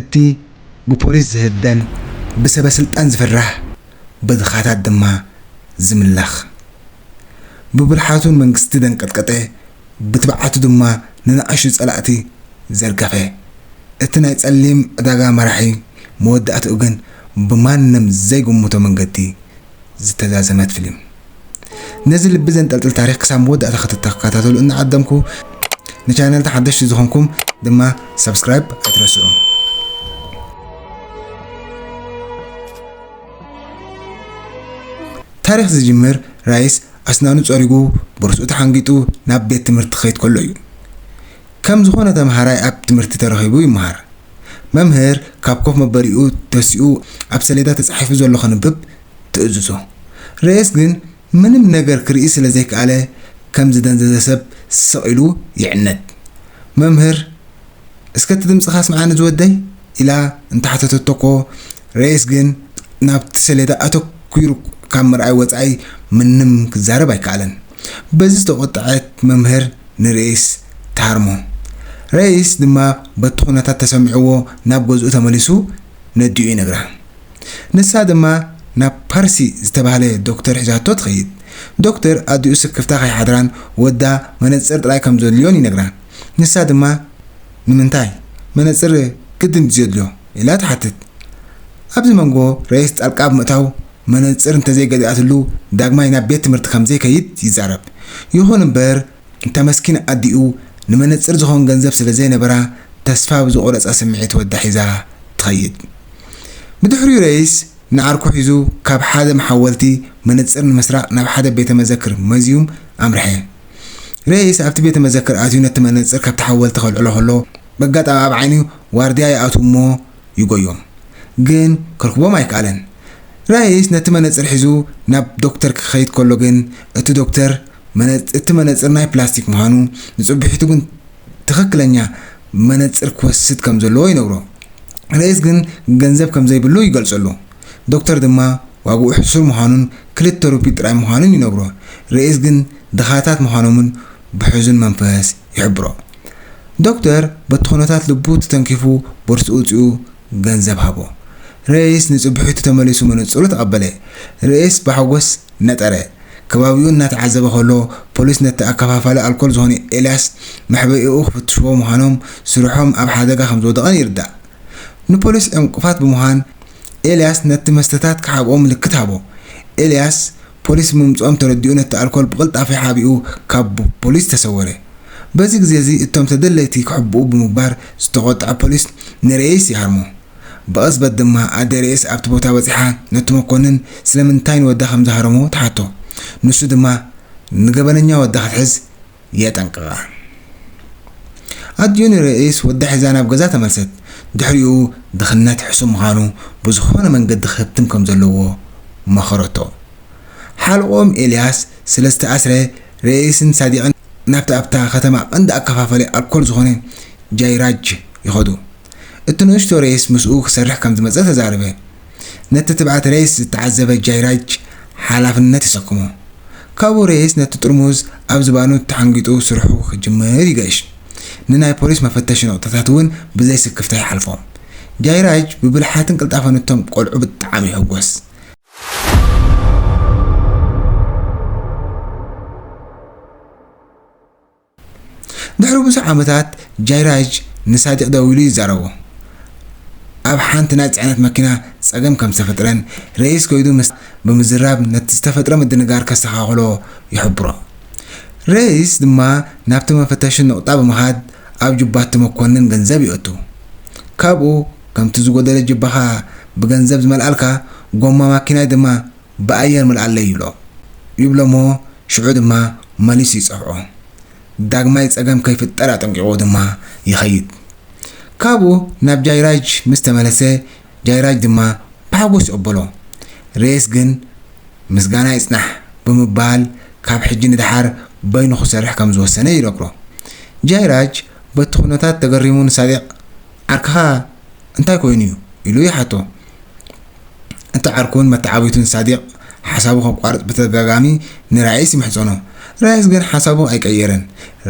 እቲ ብፖሊስ ዝህደን ብሰበስልጣን ዝፍራሕ በድኻታት ድማ ዝምላኽ ብብልሓቱ ንመንግስቲ ዘንቀጥቀጠ ብትብዓቱ ድማ ንናኣሽቱ ጸላእቲ ዘርገፈ እቲ ናይ ጸሊም ዕዳጋ መራሒ መወዳእትኡ ግን ብማንም ዘይግምቶ መንገዲ ዝተዛዘመት ፍሊም ነዚ ልቢ ዘንጠልጥል ታሪኽ ክሳብ መወዳእታ ክትተከታተሉ እናዓደምኩ ንቻነልና ሓደሽቲ ዝኾንኩም ድማ ሳብስክራይብ ኣይትረስዑ። ታሪኽ ዝጅምር ራይስ ኣስናኑ ጸሪጉ ቦርስኡ ተሓንጊጡ ናብ ቤት ትምህርቲ ክኸይድ ከሎ እዩ። ከም ዝኾነ ተምሃራይ ኣብ ትምህርቲ ተረኺቡ ይመሃር። መምህር ካብ ኮፍ መበሊኡ ተሲኡ ኣብ ሰሌዳ ተጻሒፉ ዘሎ ከንብብ ትእዝዞ። ርየስ ግን ምንም ነገር ክርኢ ስለ ዘይከኣለ ከም ዝደንዘዘ ሰብ ስቕ ኢሉ ይዕነድ። መምህር እስከ እቲ ድምጽኻ ኣስምዓኒ ዝወደይ ኢላ እንተሓተተቶ'ኮ ርየስ ግን ናብቲ ሰሌዳ ኣተኲሩ ካብ ምርኣይ ወጻኢ ምንም ክዛረብ ኣይከኣለን። በዚ ዝተቖጠዐት መምህር ንረይስ ትሃርሞ። ረይስ ድማ በቲ ኩነታት ተሰሚዕዎ ናብ ገዝኡ ተመሊሱ ነዲኡ ይነግራ። ንሳ ድማ ናብ ፐርሲ ዝተባህለ ዶክተር ሒዛቶ ትኸይድ። ዶክተር ኣዲኡ ስክፍታ ከይሓድራን ወዳ መነጽር ጥራይ ከም ዘድልዮን ይነግራ። ንሳ ድማ ንምንታይ? መነጽር ግድን ድዩ ዘድልዮ? ኢላ ትሓትት። ኣብዚ መንጎ ረይስ ጣልቃ ብምእታው መነጽር እንተዘይገዚኣትሉ ዳግማይ ናብ ቤት ትምህርቲ ከም ዘይከይድ ይዛረብ። ይኹን እምበር፣ እታ መስኪን ኣዲኡ ንመነጽር ዝኸውን ገንዘብ ስለ ዘይነበራ ተስፋ ብዝቖረጸ ስምዒት ወዳ ሒዛ ትኸይድ። ብድሕሪኡ ረይስ ንዓርኩ ሒዙ ካብ ሓደ መሓወልቲ መነጽር ንምስራቕ ናብ ሓደ ቤተ መዘክር መዝዩም ኣምርሐ። ረይስ ኣብቲ ቤተ መዘክር ኣትዩ ነቲ መነጽር ካብቲ ሓወልቲ ከልዕሎ ከሎ በጋጣሚ ኣብ ዓይኒ ዋርድያ ይኣትው እሞ ይጎዮም ግን ክርክቦም ኣይከኣለን ራይስ ነቲ መነጽር ሒዙ ናብ ዶክተር ክኸይድ ከሎ ግን እቲ ዶክተር እቲ መነጽር ናይ ፕላስቲክ ምዃኑ ንጽብሒቱ ግን ትኽክለኛ መነጽር ክወስድ ከም ዘለዎ ይነግሮ ራይስ ግን ገንዘብ ከም ዘይብሉ ይገልጸሉ ዶክተር ድማ ዋግኡ ሕሱር ምዃኑን ክልተ ሩፒ ጥራይ ምዃኑን ይነግሮ ራይስ ግን ድኻታት ምዃኖምን ብሕዙን መንፈስ ይሕብሮ። ዶክተር በቲ ኩነታት ልቡ ተተንኪፉ ቦርስኡ ኣውጺኡ ገንዘብ ሃቦ። ሬይስ ንጽብሒቱ ተመሊሱ መነጽሩ ተቐበለ። ሬይስ ብሓጎስ ነጠረ። ከባቢኡ እናተዓዘበ ከሎ ፖሊስ ነቲ ኣከፋፋሊ ኣልኮል ዝኾነ ኤልያስ መሕበኢኡ ክፍትሽዎ ምዃኖም ስርሖም ኣብ ሓደጋ ከምዝወደቐን ይርዳእ። ንፖሊስ ዕንቅፋት ብምዃን ኤልያስ ነቲ መስተታት ክሓብኦ ምልክት ሃቦ። ኤልያስ ፖሊስ ምምጽኦም ተረዲኡ ነቲ ኣልኮል ብቕልጣፈ ሓቢኡ ካብ ፖሊስ ተሰወረ። በዚ ግዜ'ዚ እቶም ተደለይቲ ክሕብኡ ብምግባር ዝተቖጥዐ ፖሊስ ንርኤይስ ይሃርሞ። ብቕጽበት ድማ ኣደ ርኤይስ ኣብቲ ቦታ በጺሓ ነቲ መኮንን ስለምንታይ ንወዳ ከም ዝሃረሞ ትሓቶ። ንሱ ድማ ንገበነኛ ወዳ ክትሕዝ፣ የጠንቅቓ። ኣዲዮኒ ርእስ ወዳ ሒዛ ናብ ገዛ ተመልሰት። ድሕሪኡ ድኽነት ሕሱም ምዃኑ ብዝኾነ መንገዲ ክህብትም ከም ዘለዎ መኸረቶ። ሓልቆም ኤልያስ ስለ ዝተኣስረ ርእስን ሳዲቕን ናብቲ ኣብታ ከተማ ቀንዲ ኣከፋፋሊ ኣልኮል ዝኾነ ጃይራጅ ይኸዱ። እቲ ንእሽቶ ርእስ ምስኡ ክሰርሕ ከም ዝመጸ ተዛረበ። ነቲ ትብዓት ሬስ ዝተዓዘበ ጃይራጅ ሓላፍነት የሰክሞ። ካብኡ ሬስ ነቲ ጥርሙዝ ኣብ ዝባኑ ተሓንጊጡ ስርሑ ክጅምር ይገሽ። ንናይ ፖሊስ መፈተሺ ነቑጣታት እውን ብዘይ ስክፍታ ይሓልፎም። ጃይራጅ ብብልሓትን ቅልጣፈን እቶም ቆልዑ ብጣዕሚ ይሕጎስ። ድሕሪ ብዙሕ ዓመታት፣ ጃይራጅ ንሳዲቕ ደዊሉ ይዛረቦ። ኣብ ሓንቲ ናይ ጽዕነት መኪና ጸገም ከም ዝተፈጥረን ረኢስ ከይዱ ምስታ ብምዝራብ ነቲ ዝተፈጥረ ምድንጋር ከስተኻኽሎ ይሕብሮ። ረኢስ ድማ ናብቲ መፈተሺ ነቑጣ ብምኻድ ኣብ ጁባቲ መኮንን ገንዘብ የእቱ። ካብኡ ከምቲ ዝጎደለ ጁባኻ ብገንዘብ ዝመልኣልካ፣ ጎማ ማኪናይ ድማ፣ ብኣየር ምልኣለይ ይብሎ። ይብሎ'ሞ ሽዑ ድማ መሊሱ ይጸብዖ። ዳግማይ ጸገም ከይፍጠር ኣጠንቂቑዎ ድማ ይኸይድ። ካብኡ ናብ ጃይራጅ ምስ ተመለሰ ጃይራጅ ድማ ብሓጎስ ይቕበሎ። ሬስ ግን ምስጋና ይጽናሕ ብምባል ካብ ሕጂ ንደሓር በይኑ ክሰርሕ ከም ዝወሰነ ይነግሮ። ጃይራጅ በቲ ኩነታት ተገሪሙ ንሳዲቕ ዓርክኻ እንታይ ኮይኑ እዩ? ኢሉ ይሓቶ። እቲ ዓርኩን መተዓብይቱን ሳዲቕ ሓሳቡ ከቋርጽ ብተደጋጋሚ ንራይስ ይምሕጸኖ። ራይስ ግን ሓሳቡ ኣይቀየረን።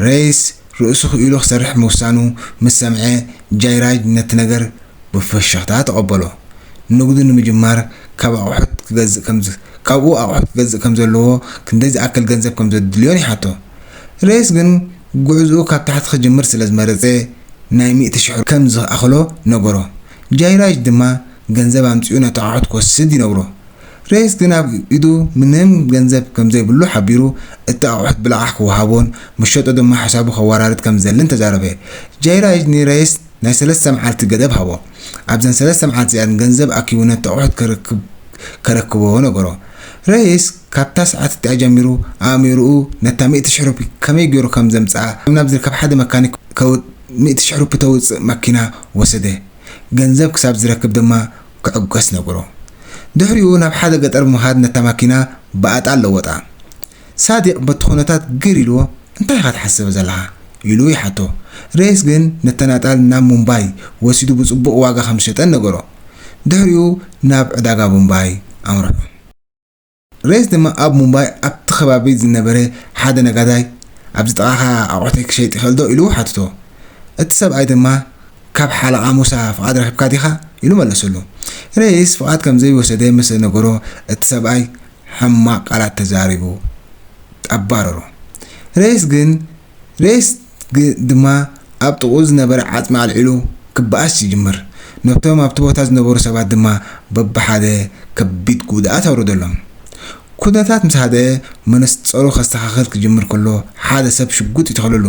ሬይስ ርእሱ ክኢሉ ክሰርሕ ምውሳኑ ምስ ሰምዐ፣ ጃይራጅ ነቲ ነገር ብፍሽኽታ ተቐበሎ። ንግዱ ንምጅማር ካብ ኣቑሑት ክገዝእ ከም ካብኡ ኣቑሑት ክገዝእ ከም ዘለዎ ክንደይ ዝኣክል ገንዘብ ከም ዘድልዮን ይሓቶ። ሬይስ ግን ጉዕዝኡ ካብ ታሕቲ ክጅምር ስለ ዝመረጸ ናይ ሚእቲ ሽሕ ከም ዝኣኽሎ ነገሮ። ጃይራጅ ድማ ገንዘብ ኣምጺኡ ነቲ ኣቑሑት ክወስድ ይነግሮ። ሬስ ግን ኣብ ኢዱ ምንም ገንዘብ ከም ዘይብሉ ሓቢሩ እቲ ኣቑሑት ብለቓሕ ክወሃቦን ምሸጦ ድማ ሕሳቡ ከወራርድ ከም ዝደልን ተዛረበ። ጃይራጅ ንሬስ ናይ ሰለስተ መዓልቲ ገደብ ሃቦ። ኣብዘን ሰለስተ መዓልቲ እዚኣን ገንዘብ ኣኪቡ ነቲ ኣቑሑት ከረክብ ከረክቦ ነገሮ። ሬስ። ካብታ ሰዓት እቲኣ ጀሚሩ ኣእሚሩኡ ነታ ሚእቲ ሽሕ ሩፒ ከመይ ገይሩ ከም ዘምጽኣ ናብ ዝርከብ ሓደ መካኒክ ከውድ ሚእቲ ሽሕ ሩፒ ተውጽእ መኪና ወሰደ። ገንዘብ ክሳብ ዝረክብ ድማ ክዕገስ ነበሮ። ድሕሪኡ ናብ ሓደ ገጠር ብምኻድ ነታ መኪና ብኣጣል ለወጣ። ሳዲቅ በቲ ኩነታት ግር ኢልዎ እንታይ ኢኻ ትሓስብ ዘለኻ? ኢሉ ይሓቶ። ረይስ ግን ነተን ኣጣል ናብ ሙምባይ ወሲዱ ብጽቡቕ ዋጋ ከም ዝሸጠን ነገሮ። ድሕሪኡ ናብ ዕዳጋ ሙምባይ ኣምርሑ። ሬስ ድማ ኣብ ሙምባይ ኣብቲ ከባቢ ዝነበረ ሓደ ነጋዳይ፣ ኣብዚ ጥቓኻ ኣቑሑተይ ክሸይጥ ይኽእል'ዶ? ኢሉ ሓተቶ። እቲ ሰብኣይ ድማ፣ ካብ ሓለቓ ሙሳ ፍቓድ ረኺብካ ዲኻ? ኢሉ መለሰሉ። ሬስ ፍቓድ ከም ዘይወሰደ ምስ ዝነገሮ፣ እቲ ሰብኣይ ሕማቕ ቃላት ተዛሪቡ ኣባረሮ። ሬስ ግን ሬስ ድማ ኣብ ጥቕኡ ዝነበረ ዓጽሚ ኣልዒሉ ክበኣስ ይጅምር። ነቶም ኣብቲ ቦታ ዝነበሩ ሰባት ድማ በብሓደ ከቢድ ጉድኣት ኣውረደሎም። ኩነታት ምስ ሃደኣ መነጸሩ ከስተኻኽል ክጅምር ከሎ ሓደ ሰብ ሽጉጥ ይተኽለሉ።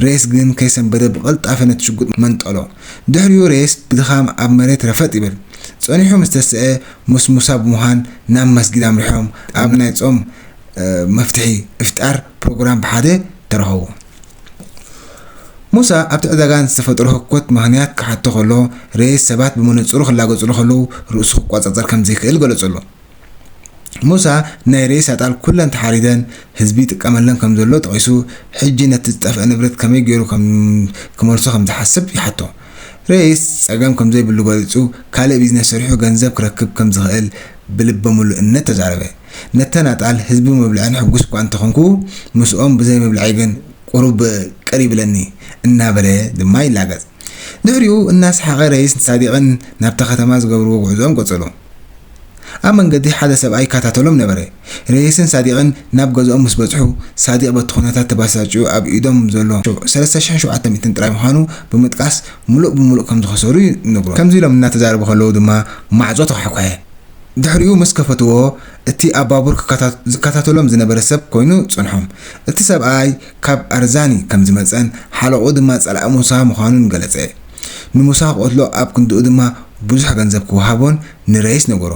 ሬስ ግን ከይሰንበደ ብቕልጣፈ ነቲ ሽጉጥ መንጠሎ። ድሕሪኡ ሬስ ብድኻም ኣብ መሬት ረፈጥ ይብል። ጸኒሑ ምስ ተሰኣ ሞስሞሳ ብምዃን ናብ መስጊድ ኣምሪሖም ኣብ ናይ ጾም መፍትሒ እፍጣር ፕሮግራም ብሓደ ተረኸቡ። ሙሳ ኣብቲ ዕዳጋ ንዝተፈጠሮ ህኮት ምኽንያት ክሓቶ ከሎ፣ ሬስ ሰባት ብመነጽሩ ክላገጽሉ ከለዉ ርእሱ ክቆጻጸር ከም ዘይክእል ገለጸሉ። ሙሳ ናይ ሬስ ኣጣል ኩለን ተሓሪደን ህዝቢ ይጥቀመለን ከም ዘሎ ጠቒሱ፣ ሕጂ ነቲ ዝጠፍኣ ንብረት ከመይ ገይሩ ክመልሶ ከም ዝሓስብ ይሓቶ። ሬስ ጸገም ከም ዘይብሉ ገሊጹ፣ ካልእ ቢዝነስ ሰሪሑ ገንዘብ ክረክብ ከም ዝኽእል ብልበ ምሉእነት ተዛረበ። ነተናጣል ህዝቢ ምብልዐን ሕጉስ'ኳ እንተኾንኩ፣ ምስኦም ብዘይ ምብልዐይ ግን ቁሩብ ቅር ይብለኒ እናበለ ድማ ይላገጽ። ድሕሪኡ እናሰሓቐ ረይስን ሳዲቕን ናብታ ከተማ ዝገብርዎ ጉዕዞኦም ቀጸሉ። ኣብ መንገዲ ሓደ ሰብኣይ ይከታተሎም ነበረ። ረይስን ሳዲቕን ናብ ገዝኦም ምስ በጽሑ፣ ሳዲቕ በቲ ኩነታት ተበሳጭዩ ኣብ ኢዶም ዘሎ ሰለስተ ሽሕን ሸውዓተ ሚእትን ጥራይ ምዃኑ ብምጥቃስ ምሉእ ብምሉእ ከም ዝኸሰሩ ይነግሮ። ከምዚ ኢሎም እናተዛረቡ ከለዉ ድማ ማዕጾ ተኳሕኩሐ። ድሕሪኡ ምስ ከፈትዎ እቲ ኣብ ባቡር ክከታተ ዝከታተሎም ዝነበረ ሰብ ኮይኑ ጸንሖም። እቲ ሰብኣይ ካብ ኣርዛኒ ከም ዝመጸን ሓለቕኡ ድማ ጸላኢ ሙሳ ምዃኑን ገለጸ። ንሙሳ ክቐትሎ ኣብ ክንድኡ ድማ ብዙሕ ገንዘብ ክወሃቦን ንረይስ ነገሮ።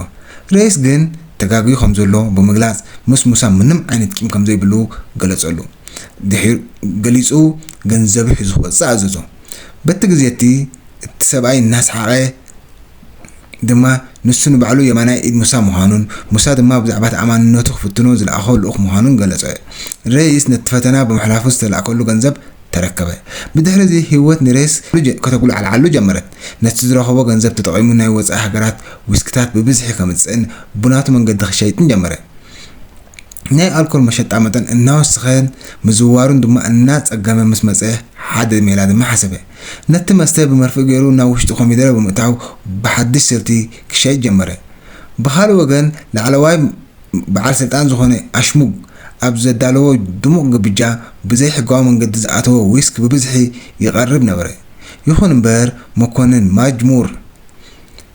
ረይስ ግን ተጋግዩ ከም ዘሎ ብምግላጽ ምስ ሙሳ ምንም ዓይነት ቂም ከም ዘይብሉ ገለጸሉ። ድሒ ገሊጹ ገንዘቡ ሒዙ ክወጽእ ኣዘዞ። በቲ ግዜ'ቲ እቲ ሰብኣይ እናሰሓቐ። ድማ ንሱ ንባዕሉ የማናይ ኢድ ሙሳ ምዃኑን ሙሳ ድማ ብዛዕባ ተኣማንነቱ ክፍትኖ ዝለኣኾ ልኡኽ ምዃኑን ገለጸ። ሬይስ ነቲ ፈተና ብምሕላፉ ዝተላእከሉ ገንዘብ ተረከበ። ብድሕርዚ ህይወት ንሬይስ ከተጉላዕልዓሉ ጀመረት። ነቲ ዝረኸቦ ገንዘብ ተጠቒሙ ናይ ወጻኢ ሃገራት ዊስኪታት ብብዝሒ ከምጽእን ብናቱ መንገዲ ክሸይጥን ጀመረ። ናይ ኣልኮል መሸጣ መጠን እናወሰኸን ምዝዋሩን ድማ እናጸገመ ምስ መጸ ሓደ ሜላ ድማ ሓሰበ። ነቲ መስተ ብመርፍእ ገይሩ ናብ ውሽጢ ኮሚደረ ብምእታው ብሓድሽ ስልቲ ክሸይጥ ጀመረ። ብኻልእ ወገን ላዕለዋይ በዓል ስልጣን ዝኾነ ኣሽሙግ ኣብ ዘዳለዎ ድሙቕ ግብጃ ብዘይ ሕጋዊ መንገዲ ዝኣተወ ዊስኪ ብብዝሒ ይቐርብ ነበረ። ይኹን እምበር መኮንን ማጅ ሙር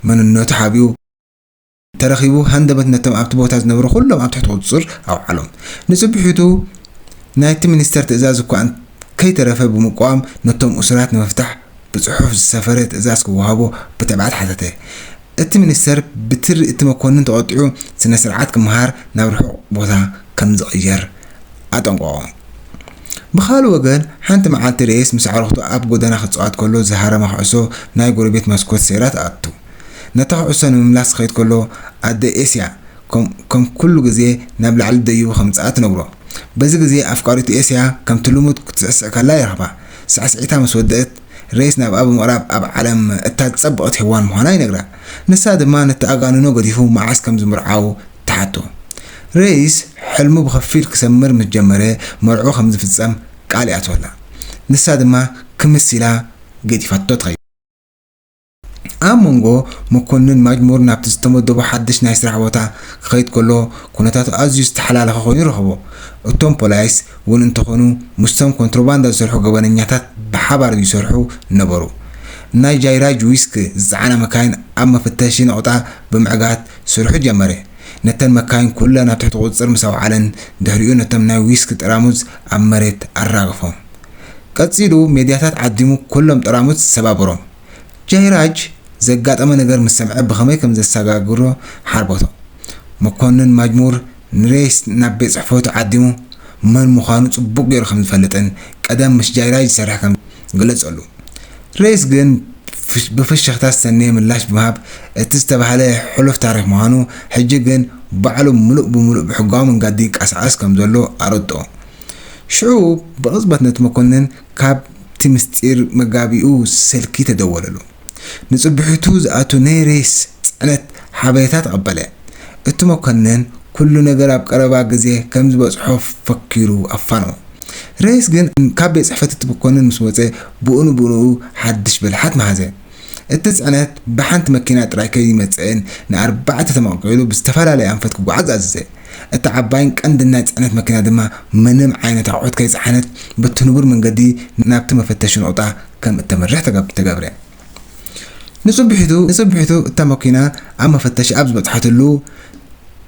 መንነቱ ሓቢኡ፣ ተረኺቡ ሃንደበት ነቶም ኣብቲ ቦታ ዝነበሩ ኩሎም ኣብ ትሕቲ ቁጽጽር ኣውዓሎም። ንጽብሒቱ ናይቲ ሚኒስተር ትእዛዝ እኳ ከይተረፈ ብምቋም ነቶም እሱራት ንምፍታሕ ብጽሑፍ ዝሰፈረ ትእዛዝ ክወሃቦ ብትብዓት ሓተተ። እቲ ሚኒስተር ብትሪ እቲ መኮንን ተቖጢዑ ስነ ስርዓት ክመሃር ናብ ርሑቕ ቦታ ከም ዝቕየር ኣጠንቀቖ። ብኻልእ ወገን ሓንቲ መዓልቲ ሬስ ምስ ኣዕሩኽቱ ኣብ ጎደና ክጻወት ከሎ ዝሃረማ ኩዕሶ ናይ ጎረቤት መስኮት ሰይራ ትኣቱ። ነታ ኩዕሶ ንምምላስ ክኸይድ ከሎ ኣደ ኤስያ ከም ኩሉ ግዜ ናብ ላዕሊ ደይቡ ከምጽኣ ትነግሮ። በዚ ግዜ ኣፍቃሪቱ ኤስያ ከምቲ ልሙድ ክትስዕስዕ ከላ ይረኽባ። ሳዕስዒታ ምስ ወደእት ሬስ ናብኣ ብምቕራብ ኣብ ዓለም እታ ዝጸበቐት ሄዋን ምዃና ይነግራ። ንሳ ድማ ንተኣጋንኖ ገዲፉ መዓስ ከም ዝምርዓው ትሓቶ። ሬስ ሕልሙ ብኸፊል ክሰምር ምስ ጀመረ መርዕኡ ከም ዝፍጸም ቃል ይኣትወላ። ንሳ ድማ ክምስ ኢላ ገዲፋቶ ትኸይድ። ኣብ መንጎ መኮንን ማጅሙር ናብቲ ዝተመደቦ ሓድሽ ናይ ስራሕ ቦታ ክኸይድ ከሎ ኩነታቱ ኣዝዩ ዝተሓላለኸ ኮይኑ ረኸቦ። እቶም ፖላይስ ውን እንተኾኑ ምስቶም ኮንትሮባንዳ ዝሰርሑ ገበነኛታት ብሓባር ይሰርሑ ነበሩ። ናይ ጃይራጅ ዊስክ ዝጸዓና መካይን ኣብ መፈተሺ ነቑጣ ብምዕጋት ስርሑ ጀመረ። ነተን መካይን ኩለን ኣብ ትሕቲ ቁጽጽር ምስ ኣውዓለን ድሕሪኡ ነቶም ናይ ዊስክ ጠራሙዝ ኣብ መሬት ኣራገፎም። ቀጺሉ ሜድያታት ዓዲሙ ኩሎም ጠራሙዝ ሰባበሮም። ጃይራጅ ዘጋጠሞ ነገር ምስ ሰምዐ ብኸመይ ከም ዘሰጋግሮ ሓርበቶ። መኮንን ማጅሙር ንሬይስ ናብ ቤት ጽሕፈቱ ዓዲሙ መን ምዃኑ ጽቡቕ ገይሩ ከም ዝፈልጥን ቀደም ምስ ጃይራጅ ዝሰርሕ ከም ዝነበረን ገለጸሉ። ሬይስ ግን ብፍሽኽታ ዝሰነየ ምላሽ ብምሃብ እቲ ዝተባህለ ሕሉፍ ታሪኽ ምዃኑ ሕጂ ግን ባዕሉ ምሉእ ብምሉእ ብሕጋዊ መንገዲ ይንቀሳቐስ ከም ዘሎ ኣረድኦ። ሽዑ ብቕጽበት ነቲ መኮንን ካብቲ ምስጢር መጋቢኡ ስልኪ ተደወለሉ። ንጽብሕቱ ዝኣቱ ናይ ሬስ ጽዕነት ሓበሬታ ተቐበለ። እቲ መኮነን ኩሉ ነገር ኣብ ቀረባ ግዜ ከም ዝበጽሖ ፈኪሩ ኣፋነዎ። ሬስ ግን ካብ ቤት ጽሕፈት እቲ መኮነን ምስ ወጸ ብኡንብኡኡ ሓድሽ ብልሓት መሃዘ። እቲ ጽዕነት ብሓንቲ መኪና ጥራይ ከይመጸእን ንኣርባዕተ ተመቕቂሉ ብዝተፈላለየ ኣንፈት ክጓዓዝ ኣዘዘ። እታ ዓባይን ቀንድን ናይ ጽዕነት መኪና ድማ ምንም ዓይነት ኣቑሑት ከይጸዓነት በቲ ንቡር መንገዲ ናብቲ መፈተሺ ነቑጣ ከም እተምርሕ ተገብረ። ንጽብሒቱ ንጽብሒቱ እታ መኪና ኣብ መፈተሺ ኣብ ዝበጽሓትሉ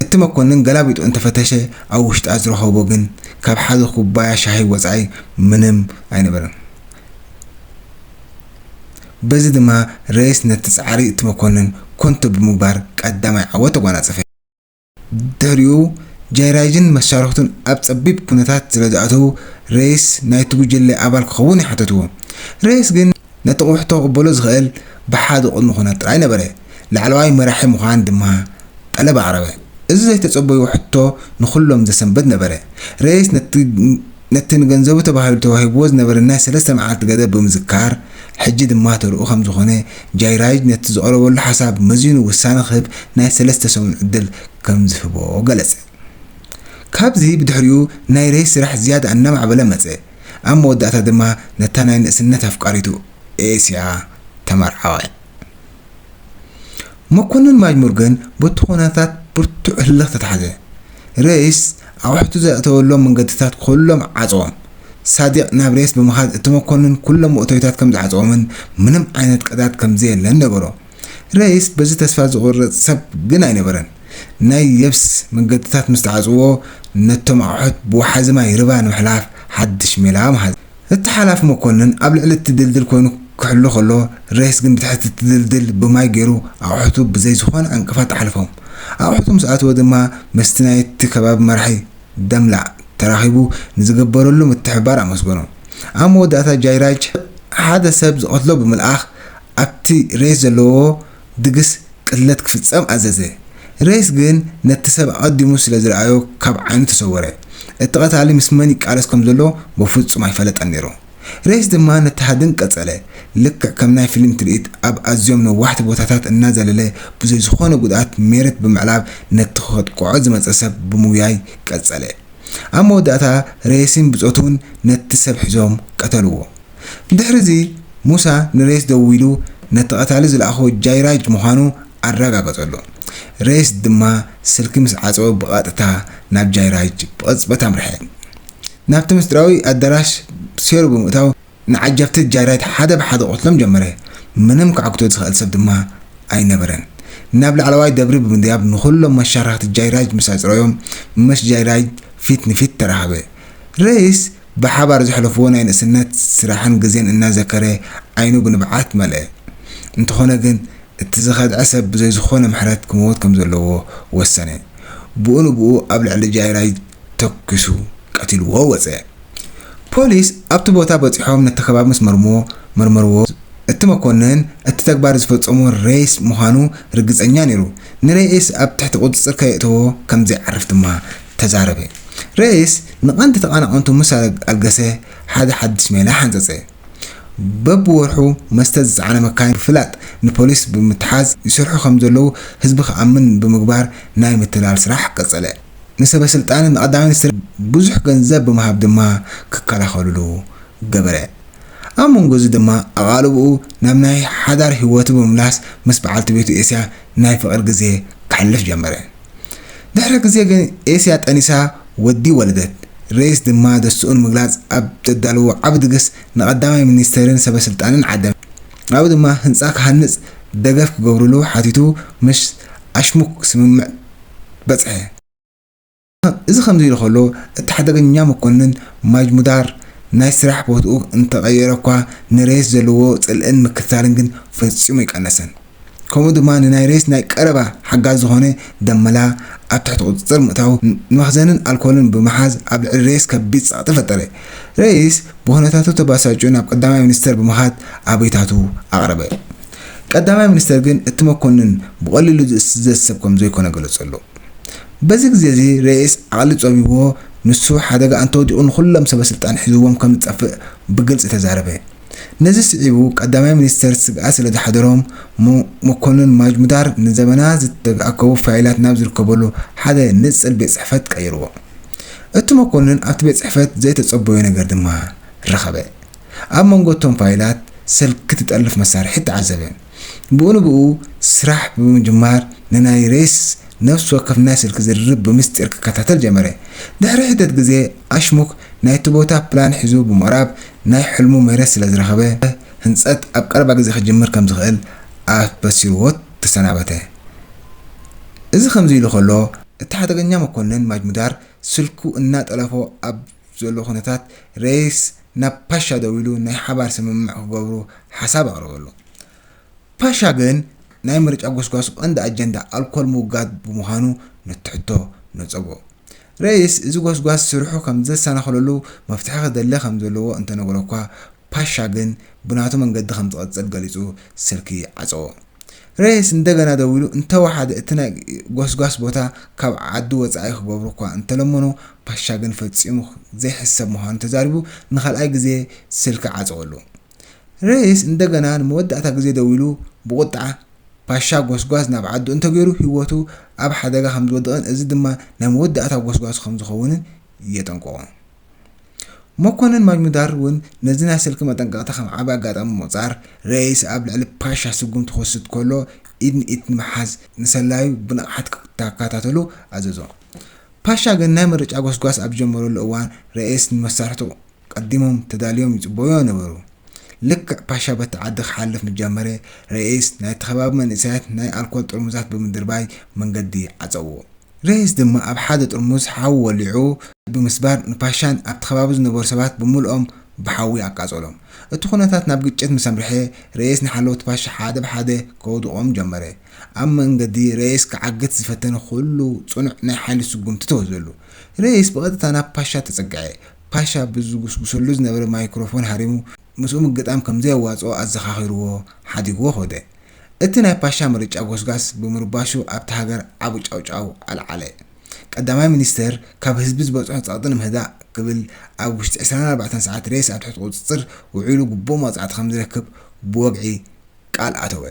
እቲ መኮንን ገላቢጡ እንተ ፈተሸ ኣብ ውሽጣ ዝረኸቦ ግን ካብ ሓደ ኩባያ ሻሂ ወጻኢ ምንም ኣይነበረን። በዚ ድማ ረይስ ነቲ ጻዕሪ እቲ መኮንን ኮንቶ ብምግባር ቀዳማይ ዓወት ተጓናጸፈ። ድሕሪኡ ጃይራይድን መሻርኽቱን ኣብ ጸቢብ ኩነታት ስለ ዝኣተዉ፣ ረይስ ናይቲ ጉጅለ ኣባል ክኸውን ይሓተትዎ። ረይስ ግን ነቲ ቁሕቶ ክቕበሎ ዝኽእል ብሓደ ቅድመ ኩነት ጥራይ ነበረ፣ ላዕለዋይ መራሒ ምዃን ድማ ጠለብ ኣቕረበ። እዚ ዘይተጸበይዎ ሕቶ ንኹሎም ዘሰንብድ ነበረ። ረይስ ነቲ። ነቲ ንገንዘቡ ተባሂሉ ተዋሂብዎ ዝነበረ ናይ ሰለስተ መዓልቲ ገደብ ብምዝካር፣ ሕጂ ድማ ተርኡ ከምዝኾነ፣ ጃይራይድ ነቲ ዝቐረበሉ ሓሳብ መዚኑ ውሳነ ክህብ ናይ ሰለስተ ሰሙን ዕድል ከምዝህቦ ገለጸ። ካብዚ ብድሕሪኡ ናይ ረይ ስራሕ ዝያዳ እናማዕበለ መጸ፣ ኣብ መወዳእታ ድማ ነታ ናይ ንእስነት ኣፍቃሪቱ ኤስያ ተመርዓወ። መኮነን ማጅ ሞርገን በቲ ኩነታት ብርቱዕ ህልኽ ተታሕዘ። ሬይስ ኣቑሑቱ ዘእተወሎም መንገድታት ኩሎም ዓጸዎም። ሳዲቕ ናብ ሬይስ ብምኻድ እቲ መኮነን ኩሎም መእተዊታት ከም ዝዓጸዎምን ምንም ዓይነት ቀዳድ ከም ዘየለን ነገሮ። ሬይስ በዚ ተስፋ ዝቑርጽ ሰብ ግን ኣይነበረን። ናይ የብስ መንገድታት ምስ ተዓጽዎ ነቶም ኣቑሑት ብወሓዚ ማይ ርባ ንምሕላፍ ሓድሽ ሜላ መሃዘ። እቲ ሓላፊ መኮንን ኣብ ልዕሊ እቲ ድልድል ኮይኑ ክሕሉ ከሎ፣ ሬስ ግን ብትሕቲ እቲ ድልድል ብማይ ገይሩ ኣቑሑቱ ብዘይ ዝኾነ ዕንቅፋት ኣሕለፎም። ኣቑሑቱ ምስ ኣተወ ድማ ምስቲ ናይቲ ከባቢ መራሒ ደምላእ ተራኺቡ ንዝገበረሉ ምትሕብባር ኣመስገኖም። ኣብ መወዳእታ ጃይራጅ ሓደ ሰብ ዝቐትሎ ብምልኣኽ ኣብቲ ሬስ ዘለዎ ድግስ ቅትለት ክፍጸም ኣዘዘ። ሬስ ግን ነቲ ሰብ ኣቐዲሙ ስለ ዝረኣዮ ካብ ዓይኑ ተሰወረ። እቲ ቀታሊ ምስ መን ይቃለስ ከም ዘሎ በፍጹም ኣይፈለጠን ነይሩ። ሬስ ድማ ነቲ ሃድን ቀጸለ፣ ልክዕ ከም ናይ ፊልም ትርኢት ኣብ ኣዝዮም ነዋሕቲ ቦታታት እናዘለለ ብዘይ ዝኾነ ጉድኣት ሜሬት ብምዕላብ ነቲ ከጥቅዖ ዝመጸ ሰብ ብምጉያይ ቀጸለ። ኣብ መወዳእታ ሬስን ብጾቱን ነቲ ሰብ ሒዞም ቀተልዎ። ብድሕሪ'ዚ ሙሳ ንሬስ ደዊሉ ነቲ ቀታሊ ዝለኣኾ ጃይራጅ ምዃኑ ኣረጋገጸሉ። ሬስ ድማ ስልኪ ምስ ዓጸወ ብቐጥታ ናብ ጃይራጅ ብቕጽበት ኣምርሐ። ናብቲ ምስጢራዊ ኣዳራሽ ሴሩ ብምእታው ንዓጀብቲ ጃይራጅ ሓደ ብሓደ ክቐትሎም ጀመረ። ምንም ክዓግቶ ዝኽእል ሰብ ድማ ኣይነበረን። ናብ ላዕለዋይ ደብሪ ብምድያብ ንኹሎም መሻርኽቲ ጃይራጅ ምስ ኣጽረዮም ምስ ጃይራጅ ፊት ንፊት ተራኸበ። ሬስ ብሓባር ዘሕለፍዎ ናይ ንእስነት ስራሕን ግዜን እናዘከረ ዓይኑ ብንብዓት መልአ። እንተኾነ ግን እቲ ዝኸድዐ ሰብ ብዘይ ዝኾነ ምሕረት ክመውት ከም ዘለዎ ወሰነ። ብኡ ንብኡ ኣብ ልዕሊ ጃይራይ ተኲሱ ቀቲልዎ ወጸ። ፖሊስ ኣብቲ ቦታ በጺሖም ነቲ ከባቢ ምስ መርመርዎ፣ እቲ መኮንን እቲ ተግባር ዝፈጸሞ ሬይስ ምዃኑ ርግጸኛ ነይሩ። ንሬይስ ኣብ ትሕቲ ቁጽጽር ከየእተዎ ከም ዘይዓርፍ ድማ ተዛረበ። ረይስ ንቐንዲ ተቓናቐንቱ ምስ ኣልገሰ ሓደ ሓድሽ ሜላ ሓንጸጸ። በብወርሑ መስተ ዝጸዓና መካይን ብፍላጥ ንፖሊስ ብምትሓዝ ይሰርሑ ከም ዘለዉ ህዝቢ ክኣምን ብምግባር ናይ ምትላል ስራሕ ቀጸለ። ንሰበስልጣንን ንቐዳማይ ሚኒስትርን ብዙሕ ገንዘብ ብምሃብ ድማ ክከላኸልሉ ገበረ። ኣብ መንጎ'ዚ ድማ ኣቓልቦኡ ናብ ናይ ሓዳር ህይወቱ ብምምላስ ምስ በዓልቲ ቤቱ ኤስያ ናይ ፍቕሪ ግዜ ከሕልፍ ጀመረ። ድሕሪ ግዜ ግን ኤስያ ጠኒሳ ወዲ ወለደት። ሬይስ ድማ ደስትኡ ንምግላጽ ኣብ ዘዳለዎ ዓቢ ድግስ ንቀዳማይ ሚኒስተርን ሰበስልጣንን ዓደመ። ኣብኡ ድማ ህንጻ ክሃንጽ ደገፍ ክገብርሉ ሓቲቱ ምስ ኣሽሙክ ስምምዕ በጽሐ። እዚ ከምዚ'ሉ ከሎ፣ እቲ ሓደገኛ መኮንን ማጅሙዳር ናይ ስራሕ ቦትኡ እንተቐየረ'ኳ ንሬስ ዘለዎ ጽልእን ምክትታልን ግን ፈጺሙ ኣይቀነሰን። ከምኡ ድማ ንናይ ሬስ ናይ ቀረባ ሓጋዚ ዝኾነ ደመላ ኣብ ትሕቲ ቁጽጽር ምእታዉ ንመኽዘንን ኣልኮልን ብምሓዝ ኣብ ልዕሊ ሬስ ከቢድ ጸቕጢ ፈጠረ። ሬስ ብኹነታቱ ተባሳጭዩ ናብ ቀዳማይ ሚኒስተር ብምኻድ ኣቤታቱ ኣቕረበ። ቀዳማይ ሚኒስተር ግን እቲ መኮንን ብቐሊሉ ዝእስዘዝ ሰብ ከምዘይኮነ ገለጸሉ። በዚ ግዜ'ዚ ሬይስ ዓቕሊ ጸቢብዎ ንሱ ሓደጋ ኣንተወዲቑ ንኹሎም ሰበስልጣን ሒዝዎም ከም ዝጠፍእ ብግልጺ ተዛረበ። ነዚ ስዒቡ ቀዳማይ ሚኒስተር ስግኣት ስለ ዝሓደሮም መኮንን ማጅሙዳር ንዘበናት ዝተኣከቡ ፋይላት ናብ ዝርከበሉ ሓደ ንጽል ቤት ጽሕፈት ቀይርዎ። እቲ መኮንን ኣብቲ ቤት ጽሕፈት ዘይተጸበዮ ነገር ድማ ረኸበ። ኣብ መንጎ'ቶም ፋይላት ስልኪ ትጠልፍ መሳርሒት ተዓዘበ። ብኡ ንብኡ ስራሕ ብምጅማር ንናይ ሬስ ነፍሲ ወከፍ ናይ ስልኪ ዝርርብ ብምስጢር ክከታተል ጀመረ። ድሕሪ ሒደት ግዜ ኣሽሙክ ናይቲ ቦታ ፕላን ሒዙ ብምቕራብ ናይ ሕልሙ መሬት ስለ ዝረኸበ ህንጸት ኣብ ቀረባ ግዜ ክጅምር ከም ዝኽእል ኣበሲርዎ ተሰናበተ። እዚ ከምዚ ኢሉ ከሎ እቲ ሓደገኛ መኮነን ማጅሙዳር ስልኩ እናጠለፎ ኣብ ዘሎ ኩነታት ሬስ ናብ ፓሻ ደዊሉ ናይ ሓባር ስምምዕ ክገብሩ ሓሳብ ኣቕረበሉ። ፓሻ ግን ናይ ምርጫ ጎስጓሱ ቀንዲ ኣጀንዳ ኣልኮል ምውጋድ ብምዃኑ ነቲ ሕቶ ነጸጎ። ረይስ እዚ ጎስጓስ ስርሑ ከምዘሰናኽለሉ መፍትሒ ክደሊ ከምዘለዎ እንተነገሮ'ኳ ፓሻ ግን ብናቱ መንገዲ ከምዝቕጽል ገሊጹ ስልኪ ዓጸዎ። ሬስ እንደገና ደዊሉ እንተወሓደ እቲ ናይ ጎስጓስ ቦታ ካብ ዓዲ ወጻኢ ክገብሩ እኳ እንተለመኑ ፓሻ ግን ፈጺሙ ዘይሕሰብ ምዃኑ ተዛሪቡ ንኻልኣይ ግዜ ስልኪ ዓጸወሉ። ሬስ እንደገና ንመወዳእታ ግዜ ደዊሉ ብቑጥዓ ፓሻ ጎስጓስ ናብ ዓዱ እንተገይሩ ህይወቱ ኣብ ሓደጋ ከምዝወድቕን እዚ ድማ ናይ መወዳእታ ጎስጓሱ ከምዝኸውንን የጠንቅቖ። መኮነን ማጅሙዳር እውን ነዚ ናይ ስልኪ መጠንቀቕታ ከም ዓቢ ኣጋጣሚ ብምቝጻር፣ ረይስ ኣብ ልዕሊ ፓሻ ስጕምቲ ክወስድ ከሎ ኢድ ንኢድ ንምሓዝ ንሰላዩ ብንቕሓት ክከታተሉ ኣዘዞ። ፓሻ ግን ናይ ምርጫ ጐስጓስ ኣብ ዝጀመረሉ እዋን ረይስ ንመሳርሕቱ ቀዲሞም ተዳልዮም ይጽበዩዎ ነበሩ። ልክዕ ፓሻ በቲ ዓዲ ክሓልፍ ምስ ጀመረ፣ ረይስ ናይቲ ከባቢ መንእሰያት ናይ ኣልኮል ጥርሙዛት ብምድርባይ መንገዲ ዓጸዉዎ። ሬይስ ድማ ኣብ ሓደ ጥርሙዝ ሓዊ ወሊዑ ብምስባር ንፓሻን ኣብቲ ከባቢ ዝነበሩ ሰባት ብምሉኦም ብሓዊ ኣቃጸሎም። እቲ ኵነታት ናብ ግጭት ምስ ኣምርሐ፣ ሬይስ ንሓለውቲ ፓሻ ሓደ ብሓደ ከውድቖም ጀመረ። ኣብ መንገዲ ሬይስ ክዓግት ዝፈተነ ኵሉ ጽኑዕ ናይ ሓይሊ ስጕምቲ ተወህዘሉ። ሬይስ ብቐጥታ ናብ ፓሻ ተጸግዐ። ፓሻ ብዝጕስጕሰሉ ዝነበረ ማይክሮፎን ሃሪሙ ምስኡ ምግጣም ከም ዘየዋጽኦ ኣዘኻኺሩዎ ሓዲግዎ ከደ። እቲ ናይ ፓሻ ምርጫ ጎስጓስ ብምርባሹ ኣብታ ሃገር ዓቢ ጫውጫው ኣልዓለ። ቀዳማይ ሚኒስተር ካብ ህዝቢ ዝበጽሖ ጸቕጢ ንምህዳእ ክብል ኣብ ውሽጢ ዕስራን ኣርባዕተን ሰዓት ሬስ ኣብ ትሕቲ ቁጽጽር ውዒሉ ግቡእ መቕጻዕቲ ከምዝረክብ ብወግዒ ቃል ኣተወ።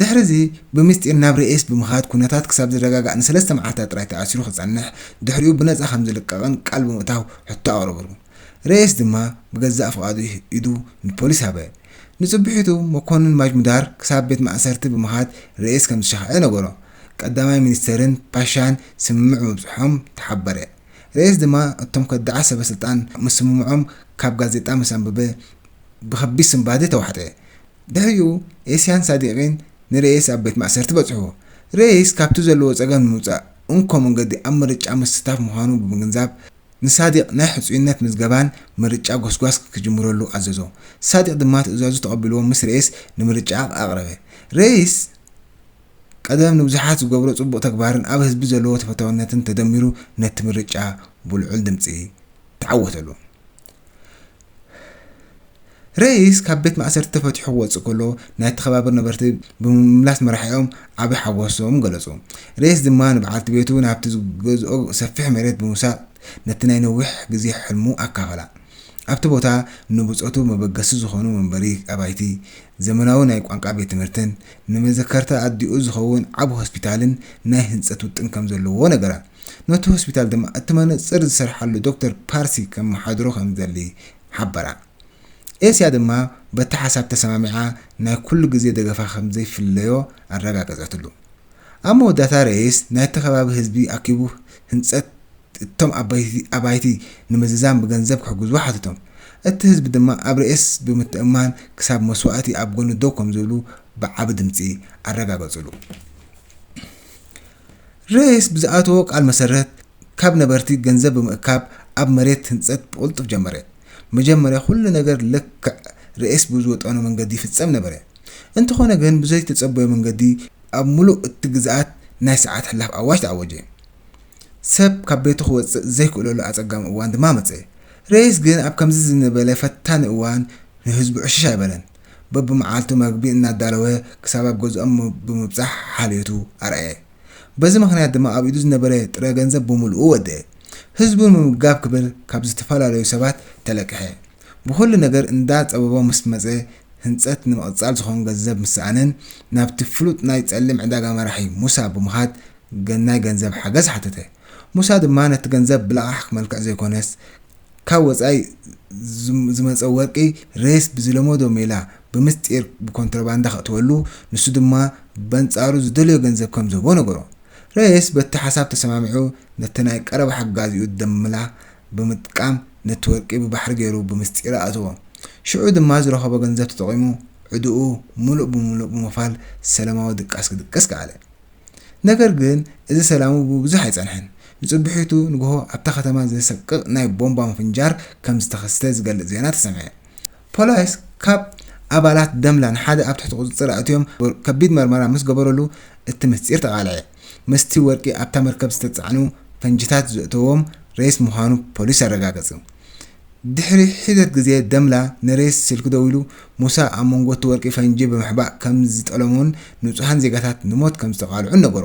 ድሕሪዚ ብምስጢር ናብ ሬስ ብምኻድ ኩነታት ክሳብ ዝረጋጋእ ንሰለስተ መዓልታት ጥራይ ተኣሲሩ ክጸንሕ ድሕሪኡ ብነጻ ከምዝልቀቕን ቃል ብምእታው ሕቶ ኣቕረቡሉ። ረየስ ድማ ብገዛእ ፍቓዱ ኢዱ ንፖሊስ ሃበ። ንጽብሒቱ መኮንን ማጅሙዳር ክሳብ ቤት ማእሰርቲ ብምኻድ ረየስ ከም ዝሸኽዐ ነገሮ። ቀዳማይ ሚኒስተርን ፓሻን ስምምዕ ምብጽሖም ተሓበረ። ረየስ ድማ እቶም ከዳዓት ሰበስልጣን ምስ ስምምዖም ካብ ጋዜጣ ምስ ኣንበበ ብኸቢድ ስንባደ ተዋሕጠ። ድሕሪኡ ኤሲያን ሳዲቒን ንረየስ ኣብ ቤት ማእሰርቲ በጽሑ። ረየስ ካብቲ ዘለዎ ጸገም ንምውጻእ እንኮ መንገዲ ኣብ ምርጫ ምስታፍ ምዃኑ ብምግንዛብ፣ ንሳዲቕ ናይ ሕጹይነት ምዝገባን ምርጫ ጎስጓስ ክጅምረሉ ኣዘዞ። ሳዲቕ ድማ ትእዛዙ ተቐቢልዎ ምስ ሬይስ ንምርጫ ኣቕረበ። ሬይስ ቀደም ንብዙሓት ዝገብሮ ጽቡቕ ተግባርን ኣብ ህዝቢ ዘለዎ ተፈታውነትን ተደሚሩ ነቲ ምርጫ ብልዑል ድምጺ ተዓወተሉ። ረይስ ካብ ቤት ማእሰርቲ ተፈቲሑ ክወጽእ ከሎ ናይቲ ከባቢ ነበርቲ ብምምላስ መራሒኦም ዓቢ ሓጎሶም ገለጹ። ረይስ ድማ ንበዓልቲ ቤቱ ናብቲ ዝገዝኦ ሰፊሕ መሬት ብምውሳድ ነቲ ናይ ነዊሕ ግዜ ሕልሙ ኣካፈላ። ኣብቲ ቦታ ንብጾቱ መበገሲ ዝዀኑ መንበሪ ኣባይቲ፣ ዘመናዊ ናይ ቋንቋ ቤት ትምህርትን ንመዘከርታ ኣዲኡ ዝኸውን ዓቢ ሆስፒታልን ናይ ህንጸት ውጥን ከም ዘለዎ ነገራ። ነቲ ሆስፒታል ድማ እቲ መነጽር ዝሰርሓሉ ዶክተር ፓርሲ ከመሓድሮ ከምዝደሊ ሓበራ። ኤስያ ድማ በቲ ሓሳብ ተሰማሚዓ ናይ ኩሉ ግዜ ደገፋ ከምዘይፍለዮ ኣረጋገጸትሉ። ኣብ መወዳእታ ረይስ ናይቲ ከባቢ ህዝቢ ኣኪቡ ህንጸት እቶም ዓበይቲ ኣባይቲ ንምዝዛም ብገንዘብ ክሕግዝዎ ሓተቶም። እቲ ህዝቢ ድማ ኣብ ረይስ ብምትእምማን ክሳብ መስዋእቲ ኣብ ጎኑ ደው ከምዝብሉ ብዓቢ ድምጺ ኣረጋገጹሉ። ርዕስ ብዝኣተዎ ቃል መሰረት ካብ ነበርቲ ገንዘብ ብምእካብ ኣብ መሬት ህንፀት ብቕልጡፍ ጀመረ። መጀመርያ ኩሉ ነገር ልክዕ ርዕስ ብዝወጠኖ መንገዲ ይፍፀም ነበረ። እንተኾነ ግን ብዘይተፀበዮ መንገዲ ኣብ ሙሉእ እቲ ግዝኣት ናይ ሰዓት ሕላፍ ኣዋጅ ተኣወጀ። ሰብ ካብ ቤቱ ክወፅእ ዘይክእለሉ ኣፀጋሚ እዋን ድማ መፀ። ርዕስ ግን ኣብ ከምዚ ዝበለ ፈታኒ እዋን ንህዝቡ ዕሽሽ ኣይበለን። በብመዓልቱ መግቢ እናዳለወ ክሳብ ኣብ ገዝኦም ብምብጻሕ ሓልዮቱ ኣርኣየ። በዚ ምኽንያት ድማ ኣብ ኢዱ ዝነበረ ጥረ ገንዘብ ብምሉኡ ወድኤ። ህዝቡ ንምምጋብ ክብል ካብ ዝተፈላለዩ ሰባት ተለቅሐ። ብኹሉ ነገር እንዳ ጸበቦ ምስ መጸ ህንጸት ንምቕጻል ዝኾን ገንዘብ ምስ ሰኣነን ናብቲ ፍሉጥ ናይ ጸሊም ዕዳጋ መራሒ ሙሳ ብምኻድ ናይ ገንዘብ ሓገዝ ሓተተ። ሙሳ ድማ ነቲ ገንዘብ ብለቓሕ መልክዕ ዘይኮነስ ካብ ወጻኢ ዝመጸ ወርቂ ሬስ ብዝለመዶ ሜላ ብምስጢር ብኮንትሮባንዳ ከእትወሉ፣ ንሱ ድማ በንጻሩ ዝደለዮ ገንዘብ ከም ዝህቦ ነገሮ። ሬስ በቲ ሓሳብ ተሰማሚዑ ነቲ ናይ ቀረባ ሓጋዚኡ ደምላ ብምጥቃም ነቲ ወርቂ ብባሕሪ ገይሩ ብምስጢር ኣእተዎ። ሽዑ ድማ ዝረኸቦ ገንዘብ ተጠቒሙ ዕድኡ ምሉእ ብምሉእ ብምኽፋል ሰለማዊ ድቃስ ክድቅስ ከኣለ። ነገር ግን እዚ ሰላሙ ብዙሕ ኣይጸንሐን። ንጽብሒቱ ንግሆ ኣብታ ከተማ ዘሰቅቕ ናይ ቦምባ ምፍንጃር ከም ዝተኸስተ ዝገልጽ ዜና ተሰምዐ። ፖላይስ ካብ ኣባላት ደምላን ሓደ ኣብ ትሕቲ ቁጽጽር ኣእትዮም ከቢድ መርመራ ምስ ገበረሉ እቲ ምስጢር ተቓልዐ። ምስቲ ወርቂ ኣብታ መርከብ ዝተጻዕኑ ፈንጂታት ዘእተዎም ሬይስ ምዃኑ ፖሊስ ኣረጋገጹ። ድሕሪ ሒደት ግዜ ደምላ ንሬስ ስልኪ ደዊሉ ሙሳ ኣብ መንጎ'ቲ ወርቂ ፈንጂ ብምሕባእ ከም ዝጠለሞን ንጹሃን ዜጋታት ንሞት ከም ዝተቓልዑን ነገሮ።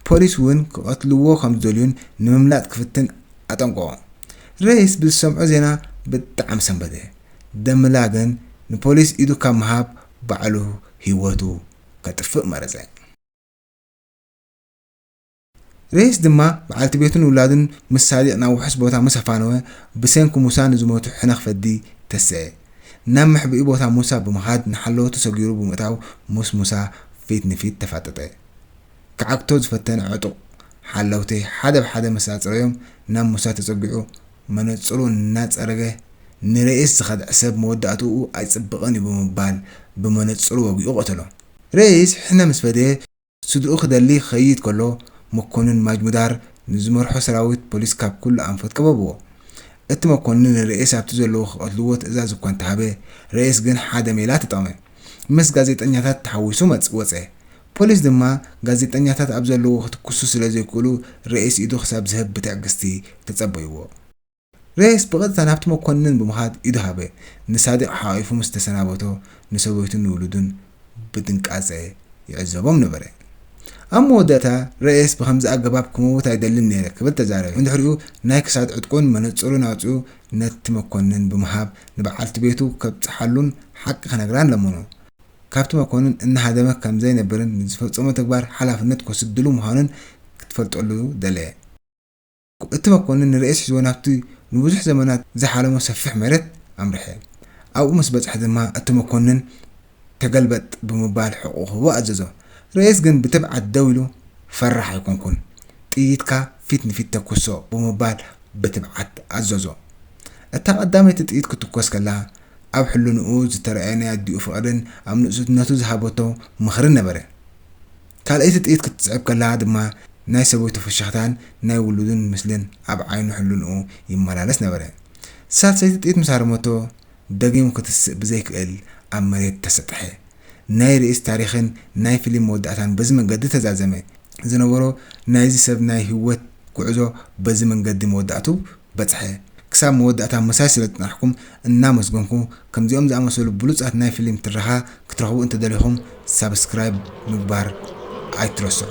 ፖሊስ እውን ክቐትልዎ ከም ዝደልዩን ንምምላጥ ክፍትን ኣጠንቀቖ። ሬስ ብዝሰምዖ ዜና ብጣዕሚ ሰንበደ። ደምላ ግን ንፖሊስ ኢዱ ካብ ምሃብ ባዕሉ ህይወቱ ከጥፍእ መረጸ። ሬስ ድማ በዓልቲ ቤቱን ውላዱን ምስ ሳዲቕ ናብ ውሑስ ቦታ ምስ ኣፋነወ፣ ብሰንኪ ሙሳ ንዝሞቱ ሕነኽ ፈዲ ተሰኤ። ናብ መሕብኢ ቦታ ሙሳ ብምኻድ ንሓለወቱ ሰጊሩ ብምእታው ምስ ሙሳ ፊት ንፊት ተፋጠጠ። ክዓግቶ ዝፈተነ ዕጡቕ ሓለውቲ ሓደ ብሓደ ምስ ኣጽረዮም ናብ ሙሳ ተጸጊዑ መነጽሩ እናጸረገ ንሬስ ዝኸድዐ ሰብ መወዳእትኡ ኣይጽብቕን እዩ ብምባል ብመነጽሩ ወጊኡ ቀተሎ። ሬስ ሕነ ምስ ፈደየ፣ ስድርኡ ክደሊ ክኸይድ ከሎ መኮንን ማጅሙዳር ንዝመርሖ ሰራዊት ፖሊስ ካብ ኩሉ ኣንፈት ከበብዎ። እቲ መኮንን ንረኢስ ኣብቲ ዘለዎ ክቐትልዎ ትእዛዝ እኳ እንተሃበ፣ ረኢስ ግን ሓደ ሜላ ተጠቕመ። ምስ ጋዜጠኛታት ተሓዊሱ መጽ ወጸ። ፖሊስ ድማ ጋዜጠኛታት ኣብ ዘለዎ ክትኩሱ ስለ ዘይክእሉ ረኢስ ኢዱ ክሳብ ዝህብ ብትዕግስቲ ተጸበይዎ። ሬስ ብቐጥታ ናብቲ መኮንን ብምኻድ ኢዱ ሃበ። ንሳዲቕ ሓቚፉ ምስ ተሰናበቶ፣ ንሰበይቱን ንውሉዱን ብጥንቃጸ ይዕዘቦም ነበረ። ኣብ መወዳእታ፣ ሬስ ብኸምዚ ኣገባብ ክመውት ኣይደልን ነይረ ክብል ተዛረበ። ብድሕሪኡ ናይ ክሳድ ዕጥቁን መነጽሩን ኣውጺኡ ነቲ መኮንን ብምሃብ ንበዓልቲ ቤቱ ከብጽሓሉን ሓቂ ክነግራን ለመኖ። ካብቲ መኮንን እናሃደመ ከም ዘይነብርን ንዝፈጸሞ ተግባር ሓላፍነት ክወስድሉ ምዃኑን ክትፈልጠሉ ደለየ። እቲ መኮንን ንርእስ ሒዝዎ ናብቲ ንብዙሕ ዘመናት ዝሓለሞ ሰፊሕ መሬት ኣምርሐ። ኣብኡ ምስ በጽሐ ድማ እቲ መኮንን ተገልበጥ ብምባል ሕቕኡ ክህቦ ኣዘዞ። ርእስ ግን ብትብዓት ደው ኢሉ ፈራሕ ኣይኮንኩን፣ ጥይትካ ፊት ንፊት ተኵሶ ብምባል ብትብዓት ኣዘዞ። እታ ቀዳመይቲ ጥይት ክትኰስ ከላ ኣብ ሕልንኡ ዝተራእየ ናይ ኣዲኡ ፍቕርን ኣብ ንእስነቱ ዝሃበቶ ምኽርን ነበረ። ካልኣይቲ ጥይት ክትስዕብ ከላ ድማ ናይ ሰበይቱ ፍሽኽታን ናይ ውሉዱን ምስልን ኣብ ዓይኑ ሕሉንኡ ይመላለስ ነበረ። ሳልሰይቲ ጥይት ምስ ሃረመቶ ደጊሙ ክትስእ ብዘይክእል ኣብ መሬት ተሰጥሐ። ናይ ርእስ ታሪኽን ናይ ፍሊም መወዳእታን በዚ መንገዲ ተዛዘመ። ዝነበሮ ናይዚ ሰብ ናይ ህይወት ጉዕዞ በዚ መንገዲ መወዳእቱ በጽሐ። ክሳብ መወዳእታ ምሳይ ስለ ዝጸናሕኩም እናመስገንኩ፣ ከምዚኦም ዝኣመሰሉ ብሉጻት ናይ ፍሊም ትረኻ ክትረኽቡ እንተደሊኹም ሳብስክራይብ ምግባር ኣይትረስዑ።